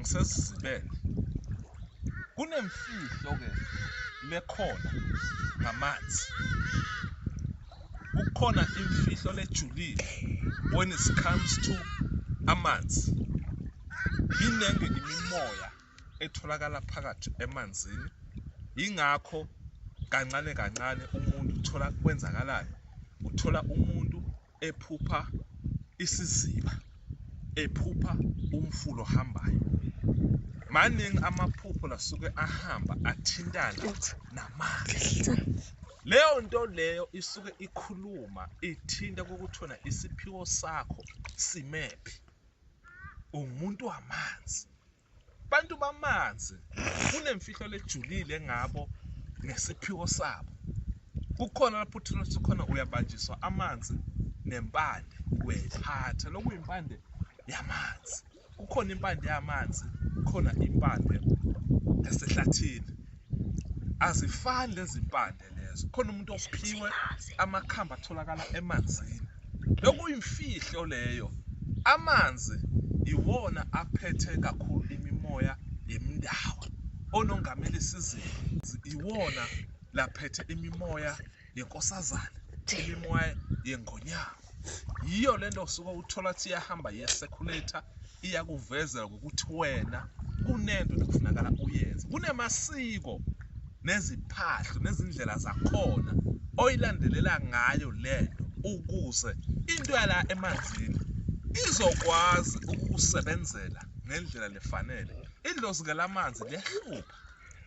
ngisesizibele kunemfihlo ke lekhona ngamanzi kukhona imfihlo lejulile when it comes to amanzi iningi imimoya etholakala phakathi emanzini ingakho kancane kancane umuntu uthola kwenzakalayo uthola umuntu ephupha isiziba ephupha umfula ohambayo maningi amaphupho lasuke ahamba athintana namanzi leyo nto leyo isuke ikhuluma ithinta kokuthona isiphiwo sakho simephi ungumuntu wamanzi Bantu bamanzi, kunemfihlo lejulile ngabo nesiphiwo sabo. Kukhona lapho uThixo khona uyabanjiswa amanzi nempande uyayiphatha lokuyimpande yamanzi. Kukhona impande yamanzi, kukhona impande yasehlathini. Azifani lezi mpande. Lezo khona umuntu ophiwe amakhambi atholakala emanzini. Lokuyimfihlo leyo. Amanzi iwona aphethe kakhulu imimoya yemindawo. Onongameli sizini iwona laphethe imimoya yenkosazana, imimoya yengonyama. yiyo le nto suke uthola ukuthi iyahamba yesekhulator iyakuvezela ngokuthi wena kunento ekufunakala uyenze kunemasiko neziphahlo nezindlela zakhona oyilandelela ngayo le nto ukuze into yala emanzini izokwazi ukukusebenzela ngendlela lefanele idlozi ke lamanzi liyahlupha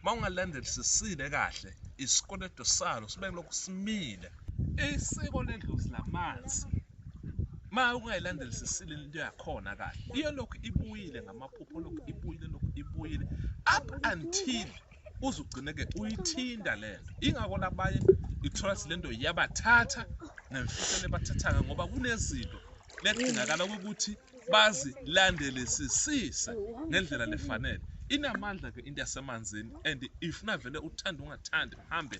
uma ungalandeli sisile kahle isikweletu salo sibe lokhu simile isiko ledlozi lamanzi ma ungayilandeli sisile into yakhona kahle iyo lokhu ibuyile ngamaphupho lokhu ibuyile lokhu ibuyile up until uze ugcine-ke uyithinta le nto ingako labanye ithola ukuthi le nto yabathatha nemfihlelo ebathathaka ngoba kunezinto lekudingakala ukuthi bazilandelisisise ngendlela lefanele inamandla ke into yasemanzini and if navele uthanda ungathandi hambe